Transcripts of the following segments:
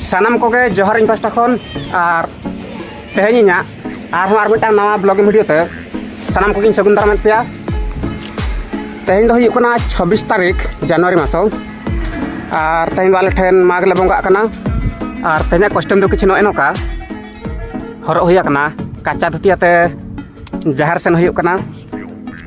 ᱥᱟᱱᱟᱢ ᱠᱚᱜᱮ ᱡᱚᱦᱟᱨ ᱤᱧ ᱯᱟᱥᱴᱟ ᱠᱷᱚᱱ ᱟᱨ ᱛᱮᱦᱮᱧ ᱤᱧᱟᱹᱜ ᱟᱨᱦᱚᱸ ᱟᱨ ᱢᱤᱫᱴᱟᱝ ᱱᱟᱣᱟ ᱵᱞᱚᱜᱤᱝ ᱵᱷᱤᱰᱤᱭᱳ ᱛᱮ ᱥᱟᱱᱟᱢ ᱠᱚᱜᱮᱧ ᱥᱟᱹᱜᱩᱱ ᱫᱟᱨᱟᱢᱮᱫ ᱯᱮᱭᱟ ᱛᱮᱦᱮᱧ ᱫᱚ ᱦᱩᱭᱩᱜ ᱠᱟᱱᱟ ᱪᱷᱟᱵᱵᱤᱥ ᱛᱟᱹᱨᱤᱠᱷ ᱡᱟᱱᱩᱣᱟᱨᱤ ᱢᱟᱥᱚ ᱟᱨ ᱛᱮᱦᱮᱧ ᱫᱚ ᱟᱞᱮ ᱴᱷᱮᱱ ᱢᱟᱜᱽ ᱞᱮ ᱵᱚᱸᱜᱟᱜ ᱠᱟᱱᱟ ᱟᱨ ᱛᱮᱦᱮᱧᱟᱜ ᱠᱚᱥᱴᱮᱢ ᱫᱚ ᱠᱤᱪᱷᱩ ᱱᱚᱜᱼᱚᱭ ᱱᱚᱝᱠᱟ ᱦᱚᱨᱚᱜ ᱦᱩᱭ ᱟᱠᱟᱱᱟ ᱠᱟᱪᱟ ᱫᱷᱩᱛᱤ ᱟᱛᱮ ᱡᱟᱦᱮᱨ ᱥᱮᱱ ᱦᱩᱭᱩᱜ ᱠᱟᱱᱟ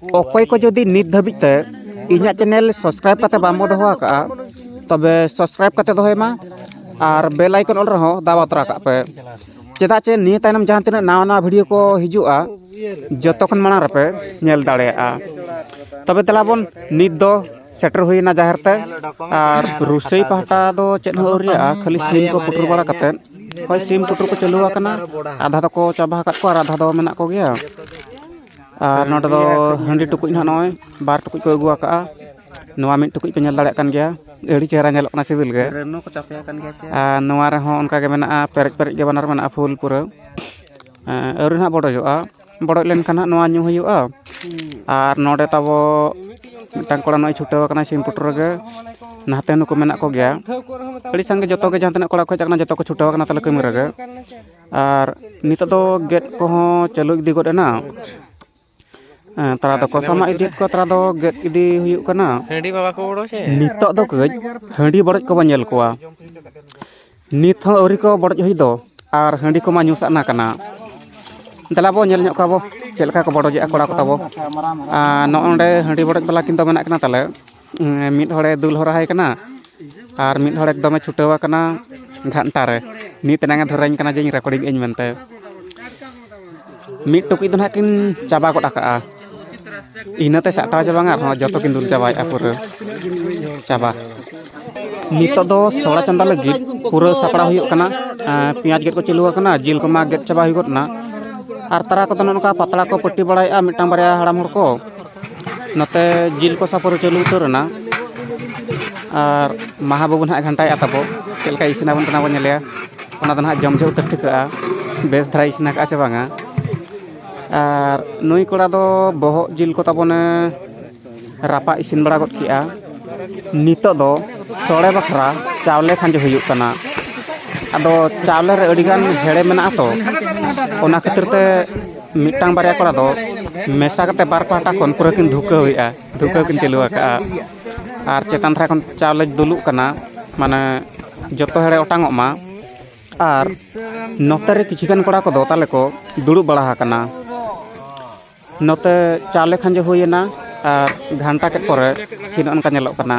ᱚᱠᱚᱭ ᱠᱚ ᱡᱩᱫᱤ ᱱᱤᱛ ᱫᱷᱟᱹᱵᱤᱡ ᱛᱮ ᱤᱧᱟᱹᱜ ᱪᱮᱱᱮᱞ ᱥᱟᱵᱥᱠᱨᱟᱭᱤᱵᱽ ᱠᱟᱛᱮ ᱵᱟᱢ ᱫᱚᱦᱚ ᱟᱠᱟᱫᱼᱟ ᱛᱚᱵᱮ ᱥᱟᱵᱥᱠᱨᱟᱭᱤᱵᱽ ᱠᱟᱛᱮ ᱫᱚᱦᱚᱭ ᱢᱟ ᱟᱨ ᱵᱮᱞ ᱟᱭᱠᱚᱱ ᱚᱞ ᱨᱮᱦᱚᱸ ᱫᱟᱵᱟᱣ ᱛᱚᱨᱟ ᱠᱟᱜ ᱯᱮ ᱪᱮᱫᱟᱜ ᱪᱮ ᱱᱤᱭᱟᱹ ᱛᱟᱭᱱᱚᱢ ᱡᱟᱦᱟᱸ ᱛᱤᱱᱟᱹᱜ ᱱᱟᱣᱟ ᱱᱟᱣᱟ ᱵᱷᱤᱰᱤᱭᱳ ᱠᱚ ᱦᱤᱡᱩᱜᱼᱟ ᱡᱚᱛᱚ ᱠᱷᱚᱱ ᱢᱟᱲᱟᱝ ᱨᱮᱯᱮ ᱧᱮᱞ ᱫᱟᱲᱮᱭᱟᱜᱼᱟ ᱛᱚᱵᱮ ᱫᱮᱞᱟ ᱵᱚᱱ ᱱᱤᱛ ᱫᱚ ᱥᱮᱴᱮᱨ ᱦᱩᱭᱱᱟ ᱡᱟᱦᱮᱨ ᱛᱮ ᱟᱨ ᱨᱩᱥᱟᱹᱭ ᱯᱟᱦᱴᱟ ᱫᱚ ᱪᱮᱫ ᱦᱚᱸ ᱟᱹᱣᱨᱤᱭᱟᱜᱼᱟ ᱠᱷᱟᱹᱞᱤ ᱥᱤᱢ ᱠᱚ ᱯᱩᱴᱩᱨ ᱵᱟᱲᱟ ᱠᱟᱛᱮ ᱦᱳᱭ ᱥᱤᱢ ᱯᱩᱴᱩᱨ ᱠᱚ ᱪᱟᱹᱞᱩ ᱟᱠᱟᱱᱟ ᱟᱫᱷᱟ ᱫᱚᱠᱚ ᱪᱟᱵᱟ ᱟᱠᱟᱫ ᱠᱚᱣᱟ ᱟᱨ ᱟᱫᱷᱟ ᱫᱚ ᱢᱮᱱᱟᱜ ᱠᱚᱜᱮᱭᱟ ᱟᱨ ᱱᱚᱸᱰᱮ ᱫᱚ ᱦᱟᱺᱰᱤ ᱴᱩᱠᱩᱡ ᱦᱚᱸ ᱱᱚᱜᱼᱚᱸᱭ ᱵᱟᱨ ᱴᱩᱠᱩᱡ ᱠᱚ ᱟᱹᱜᱩ ᱟᱠᱟᱫᱼᱟ ᱱᱚᱣᱟ ᱢᱤᱫ ᱴᱩᱠᱩᱡ ᱯᱮ ᱧᱮᱞ ᱫᱟᱲᱮᱭᱟᱜ ᱠᱟᱱ ᱜᱮᱭᱟ ᱟᱹᱰᱤ ᱪᱮᱦᱨᱟ ᱧᱮᱞᱚᱜ ᱠᱟᱱᱟ ᱥᱤᱵᱤᱞ ᱜᱮ ᱟᱨ ᱱᱚᱣᱟ ᱨᱮᱦᱚᱸ ᱚᱱᱠᱟ ᱜᱮ ᱢᱮᱱᱟᱜᱼᱟ ᱯᱮᱨᱮᱡ ᱯᱮᱨᱮᱡ ᱜᱮ ᱵᱟᱱᱟᱨ ᱢᱮᱱᱟᱜᱼᱟ ᱯᱷᱩᱞ ᱯᱩᱨᱟᱹ ᱟᱹᱣᱨᱤ ᱦᱟᱸᱜ ᱵᱚᱰᱚᱡᱚᱜᱼᱟ ᱵᱚᱰᱚᱡ ᱞᱮᱱᱠᱷᱟᱱ ᱦᱟᱸᱜ ᱱᱚᱣᱟ ᱧᱩ ᱦᱩᱭᱩᱜᱼᱟ ᱟᱨ ᱱᱚᱸᱰᱮ ᱛᱟᱵᱚ ᱢᱤᱫᱴᱟᱝ ᱠᱚᱲᱟ ᱱᱚᱜᱼᱚᱸᱭ ᱪᱷᱩᱴᱟᱹᱣ ᱟᱠᱟᱱᱟᱭ ᱥᱤᱢ ᱯᱩᱴᱩᱨ ᱨᱮᱜᱮ ᱱᱟᱛᱮ ᱱᱩᱠᱩ ᱢᱮᱱᱟᱜ ᱠᱚᱜᱮᱭᱟ ᱟᱹᱰᱤ ᱥᱟᱸᱜᱮ ᱡᱚᱛᱚᱜᱮ ᱡᱟᱦᱟᱸ ᱛᱤᱱᱟᱹᱜ ᱠᱚᱲᱟ ᱠᱚ ᱦᱮᱡ ᱟᱠᱟᱱᱟ ᱡᱚᱛᱚ ᱠᱚ ᱪᱷᱩᱴᱟᱹᱣ ᱟᱠᱟᱱᱟ ᱛᱟᱞᱮ ᱠᱟᱹᱢᱤ ᱨᱮᱜᱮ ᱟᱨ ᱱᱤᱛᱚᱜ ᱫᱚ ᱜᱮᱫ ᱠᱚᱦᱚᱸ ᱪᱟᱹᱞᱩ ᱤᱫᱤ ᱜᱚᱫ ᱮᱱᱟ ᱛᱟᱨᱟ ᱫᱚᱠᱚ ᱥᱟᱢᱟᱜ ᱤᱫᱤᱭᱮᱫ ᱠᱚᱣᱟ ᱛᱟᱨᱟ ᱫᱚ ᱜᱮᱫ ᱤᱫᱤ ᱦᱩᱭᱩᱜ ᱠᱟᱱᱟ ᱱᱤᱛᱚᱜ ᱫᱚ ᱠᱟᱹᱡ ᱦᱟᱺᱰᱤ ᱵᱚᱰᱚᱡ ᱠᱚᱵᱚᱱ ᱧᱮᱞ ᱠᱚᱣᱟ ᱱᱤᱛ ᱦᱚᱸ ᱟᱹᱣᱨᱤ ᱠᱚ ᱵᱚᱰᱚᱡ ᱦᱩᱭ ᱫᱚ ᱟᱨ ᱦᱟᱺᱰᱤ ᱠᱚᱢᱟ ᱧᱩ ᱥᱟᱱᱟ ᱠᱟᱱᱟ ᱫᱮᱞᱟ ᱵᱚᱱ ᱧᱮᱞ ᱧᱚᱜ ᱠᱚᱣᱟ ᱵᱚᱱ ᱪᱮᱫ ᱞᱮᱠᱟ ᱠᱚ ᱵᱚᱰᱚᱡᱮᱜᱼᱟ ᱠᱚᱲᱟ ᱠᱚ ᱛᱟᱵᱚ ᱟᱨ ᱱᱚᱜᱼᱚᱸᱰᱮ ᱦᱟᱺᱰᱤ ᱵᱚᱰᱚᱡ ᱵᱟᱞᱟ ᱠᱤᱱ ᱫᱚ ᱢᱮᱱᱟᱜ ᱠᱤᱱᱟ ᱛᱟᱞᱮ ᱢᱤᱫ ᱦᱚᱲᱮ ᱫᱩᱞ ᱦᱚᱨᱟ ᱟᱭ ᱠᱟᱱᱟ ᱟᱨ ᱢᱤᱫ ᱦᱚᱲ ᱮᱠᱫᱚᱢᱮ ᱪᱷᱩᱴᱟᱹᱣ ᱟᱠᱟᱱᱟ ᱜᱷᱟᱱᱴᱟ ᱨᱮ ᱱᱤᱛ ᱮᱱᱟᱝ ᱮ ᱫᱷᱚᱨᱟᱹᱧ ᱠᱟᱱᱟ ᱡᱮ ᱤᱧ ᱨᱮᱠᱳᱰᱤᱝ ᱟᱹᱧ ᱢᱮᱱᱛᱮ ᱢᱤᱫ ᱴᱩᱠᱩᱡ ᱫᱚ ᱦᱟᱸᱜ ᱠᱤᱱ ᱪᱟᱵᱟ ᱜᱚᱫ ᱠᱟᱜᱼᱟ ᱤᱱᱟᱹᱛᱮ ᱥᱟᱦᱴᱟᱣ ᱪᱟᱵᱟ ᱵᱟᱝ ᱟᱨᱦᱚᱸ ᱡᱚᱛᱚ ᱠᱤᱱ ᱫᱩᱞ ᱪᱟᱵᱟᱭᱮᱫᱼᱟ ᱯᱩᱨᱟᱹ ᱪᱟᱵᱟ ᱱᱤᱛᱚᱜ ᱫᱚ ᱥᱚᱲᱟ ᱪᱚᱸᱫᱟ ᱞᱟᱹᱜᱤᱫ ᱯᱩᱨᱟᱹ ᱥᱟᱯᱲᱟᱣ ᱦᱩᱭᱩᱜ ᱠᱟᱱᱟ ᱯᱮᱸᱭᱟᱡᱽ ᱜᱮᱫ ᱠᱚ ᱪᱟᱹᱞᱩ ᱟᱠᱟᱱᱟ ᱡᱤᱞ ᱠᱚᱢᱟ ᱜᱮᱫ ᱪᱟᱵᱟ ᱦᱩᱭ ᱜᱚᱫ ᱮᱱᱟ ᱟᱨ ᱛᱟᱨᱟ ᱠᱚᱫᱚ ᱱᱚᱜᱼᱚ ᱱᱚᱝᱠᱟ ᱯᱟᱛᱲᱟ ᱠᱚ ᱯᱟᱹᱴᱤ ᱵᱟᱲᱟᱭᱮᱫᱼᱟ ᱢᱤᱫᱴᱟᱱ ᱵᱟᱨᱭᱟ ᱦᱟᱲᱟᱢ ᱦᱚᱲ ᱠᱚ ᱱᱚᱛᱮ ᱡᱤᱞ ᱠᱚᱥᱟ ᱯᱩᱨᱟᱹ ᱪᱟᱹᱞᱩ ᱩᱛᱟᱹᱨ ᱮᱱᱟ ᱟᱨ ᱢᱟᱦᱟ ᱵᱟᱹᱵᱩ ᱱᱟᱦᱟᱜ ᱜᱷᱟᱱᱴᱟᱭᱮᱫᱼᱟ ᱛᱟᱵᱚ ᱪᱮᱫ ᱞᱮᱠᱟᱭ ᱤᱥᱤᱱ ᱟᱵᱚᱱ ᱠᱟᱱᱟ ᱵᱚᱱ ᱧᱮᱞᱮᱭᱟ ᱚᱱᱟ ᱫᱚ ᱱᱟᱦᱟᱜ ᱡᱚᱢ ᱡᱚᱦᱚᱜ ᱩᱛᱟᱹᱨ ᱴᱷᱤᱠᱟᱹᱜᱼᱟ ᱵᱮᱥ ᱫᱷᱟᱨᱟᱭ ᱤᱥᱤᱱ ᱟᱠᱟᱫᱼᱟ ᱥᱮ ᱵᱟᱝᱟ ᱟᱨ ᱱᱩᱭ ᱠᱚᱲᱟ ᱫᱚ ᱵᱚᱦᱚᱜ ᱡᱤᱞ ᱠᱚ ᱛᱟᱵᱚᱱᱮ ᱨᱟᱯᱟᱜ ᱤᱥᱤᱱ ᱵᱟᱲᱟ ᱜᱚᱫ ᱠᱮᱫᱼᱟ ᱱᱤᱛᱚᱜ ᱫᱚ ᱥᱚᱲᱮ ᱵᱟᱠᱷᱨᱟ ᱪᱟᱣᱞᱮ ᱠᱷᱟᱸᱡᱚ ᱦᱩᱭᱩᱜ ᱠᱟᱱᱟ ᱟᱫᱚ ᱪᱟᱣᱞᱮ ᱨᱮ ᱟᱹᱰᱤᱜᱟᱱ ᱦᱮᱲᱮ ᱢᱮᱱᱟᱜᱼᱟ ᱛᱚ ᱚᱱᱟ ᱠᱷᱟᱹᱛᱤᱨ ᱛᱮ ᱢᱤᱫᱴᱟᱝ ᱵᱟᱨᱭᱟ ᱠᱚᱲᱟ ᱫᱚ ᱢᱮᱥᱟ ᱠᱟᱛᱮ ᱵᱟᱨ ᱯᱟᱦᱴᱟ ᱠᱷᱚᱱ ᱯᱩᱨᱟᱹ ᱠᱤᱱ ᱫᱷᱩᱠᱟᱹᱣᱮᱜᱼᱟ ᱫᱷᱩᱠᱟᱹᱣ ᱠᱤᱱ ᱪᱟᱹᱞᱩ ᱟᱠᱟᱫᱼᱟ ᱟᱨ ᱪᱮᱛᱟᱱ ᱫᱷᱟᱨᱮ ᱠᱷᱚᱱ ᱪᱟᱣᱞᱮ ᱫᱩᱞᱩᱜ ᱠᱟᱱᱟ ᱢᱟᱱᱮ ᱡᱚᱛᱚ ᱦᱚᱲᱮ ᱚᱴᱟᱝ ᱚᱜ ᱢᱟ ᱟᱨ ᱱᱚᱛᱮ ᱨᱮ ᱠᱤᱪᱷᱩ ᱜᱟᱱ ᱠᱚᱲᱟ ᱠᱚᱫᱚ ᱛᱟᱞᱮ ᱠᱚ ᱫᱩᱲᱩᱵ ᱵᱟᱲᱟ ᱟᱠᱟᱱᱟ ᱱᱚᱛᱮ ᱪᱟᱣᱞᱮ ᱠᱷᱟᱸᱡᱚ ᱦᱩᱭᱮᱱᱟ ᱟᱨ ᱜᱷᱟᱱᱴᱟ ᱠᱮᱫ ᱯᱚᱨᱮ ᱛᱤᱱᱟᱹᱜ ᱚᱱᱠᱟ ᱧᱮᱞᱚᱜ ᱠᱟᱱᱟ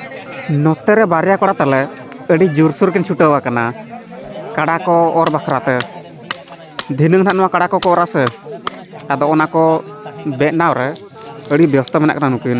ᱱᱚᱛᱮ ᱨᱮ ᱵᱟᱨᱭᱟ ᱠᱚᱲᱟ ᱛᱟᱞᱮ ᱟᱹᱰᱤ ᱡᱳᱨᱥᱳᱨ ᱠᱤᱱ ᱪᱷᱩᱴᱟᱹᱣ ᱟᱠᱟᱱᱟ ᱠᱟᱰᱟ ᱠᱚ ᱚᱨ ᱵᱟᱠᱷᱨᱟ ᱛᱮ ᱫᱷᱤᱱᱟᱹᱝ ᱦᱟᱸᱜ ᱱᱚᱣᱟ ᱠᱟᱰᱟ ᱠᱚᱠᱚ ᱚᱨ ᱟᱥᱮ ᱟᱫᱚ ᱚᱱᱟ ᱠᱚ ᱵᱮᱱᱟᱣ ᱨᱮ ᱟᱹᱰᱤ ᱵᱮᱥᱛᱚ ᱢᱮᱱᱟᱜ ᱠᱤᱱᱟ ᱱᱩᱠᱤᱱ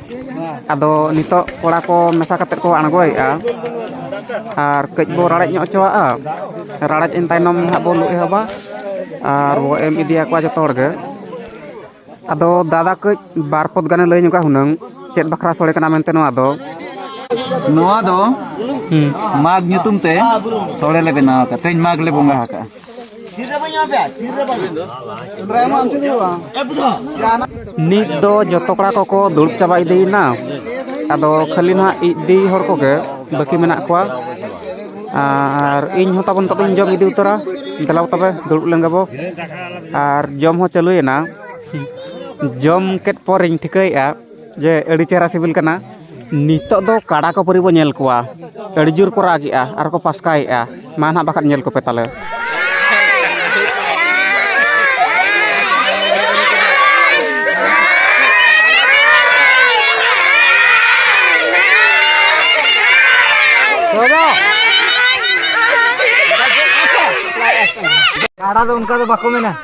ᱟᱫᱚ ᱱᱤᱛᱚᱜ ᱠᱚᱲᱟ ᱠᱚ ᱢᱮᱥᱟ ᱠᱟᱛᱮᱫ ᱠᱚ ᱟᱬᱜᱚᱭᱮᱫᱼᱟ ᱟᱨ ᱠᱟᱹᱡ ᱵᱚ ᱨᱟᱲᱮᱡ ᱧᱚᱜ ᱦᱚᱪᱚᱣᱟᱜᱼᱟ ᱨᱟᱲᱮᱡ ᱮᱱ ᱛᱟᱭᱱᱚᱢ ᱦᱟᱸᱜ ᱵᱚᱱ ᱞᱩ ᱮᱦᱚᱵᱟ ᱟᱨ ᱵᱚ ᱮᱢ ᱤᱫᱤᱭᱟᱠᱚᱣᱟ ᱡᱚᱛᱚ ᱦᱚᱲᱜᱮ ᱟᱫᱚ ᱫᱟᱫᱟ ᱠᱟᱹᱡ ᱵᱟᱨ ᱯᱚᱫᱽ ᱜᱟᱱᱮ ᱞᱟᱹᱭ ᱧᱚᱜᱟ ᱦᱩᱱᱟᱹᱝ ᱪᱮᱫ ᱵᱟᱠᱷᱨᱟ ᱥᱚᱲᱮ ᱠᱟᱱᱟ ᱢᱮᱱᱛᱮ ᱱᱚᱣᱟ ᱫᱚ ᱱᱚᱣᱟ ᱫᱚ ᱢᱟᱜᱽ ᱧᱩᱛᱩᱢ ᱛᱮ ᱥᱚᱲᱮ ᱞᱮ ᱵᱮᱱᱟᱣ ᱟᱠᱟᱫᱼᱟ ᱛᱮᱦᱮᱧ ᱢᱟᱜᱽ ᱞᱮ ᱵᱚᱸᱜᱟ ᱟᱠᱟᱫᱼᱟ ᱱᱤᱛ ᱫᱚ ᱡᱚᱛᱚ ᱠᱚᱲᱟ ᱠᱚᱠᱚ ᱫᱩᱲᱩᱵ ᱪᱟᱵᱟ ᱤᱫᱤᱭᱮᱱᱟ ᱟᱫᱚ ᱠᱷᱟᱹᱞᱤ ᱱᱟᱦᱟᱜ ᱤᱫᱤ ᱦᱚᱲ ᱠᱚᱜᱮ ᱵᱟᱹᱠᱤ ᱢᱮᱱᱟᱜ ᱠᱚᱣᱟ ᱟᱨ ᱤᱧ ᱦᱚᱸ ᱛᱟᱵᱚᱱ ᱠᱟᱛᱮᱧ ᱡᱚᱢ ᱤᱫᱤ ᱩᱛᱟᱹᱨᱟ ᱫᱮᱞᱟ ᱛᱚᱵᱮ ᱫᱩᱲᱩᱵ ᱞᱮᱱ ᱜᱮᱵᱚ ᱟᱨ ᱡᱚᱢ ᱦᱚᱸ ᱪᱟᱹᱞᱩᱭᱮᱱᱟ ᱡᱚᱢ ᱠᱮᱫ ᱯᱚᱨᱮᱧ ᱴᱷᱤᱠᱟᱹᱭᱮᱫᱼᱟ ᱡᱮ ᱟᱹᱰᱤ ᱪᱮᱦᱨᱟ ᱥᱤᱵᱤᱞ ᱠᱟᱱᱟ ᱱᱤᱛᱚᱜ ᱫᱚ ᱠᱟᱲᱟ ᱠᱚ ᱯᱟᱹᱨᱤ ᱵᱚᱱ ᱧᱮᱞ ᱠᱚᱣᱟ ᱟᱹᱰᱤ ᱡᱳᱨ ᱠᱚ ᱨᱟᱜ ᱮᱜᱼᱟ ᱟᱨ ᱠᱚ ᱯᱟᱥᱠᱟᱭᱮᱜᱼᱟ ᱢᱟ ᱱᱟᱦᱟᱜ ᱵᱟᱠᱷᱟᱡ ᱧᱮᱞ ᱠᱚᱯᱮ ᱛᱟᱞᱮ ᱠᱟᱲᱟ ᱫᱚ ᱚᱱᱠᱟ ᱫᱚ ᱵᱟᱠᱚ ᱢᱮᱱᱟ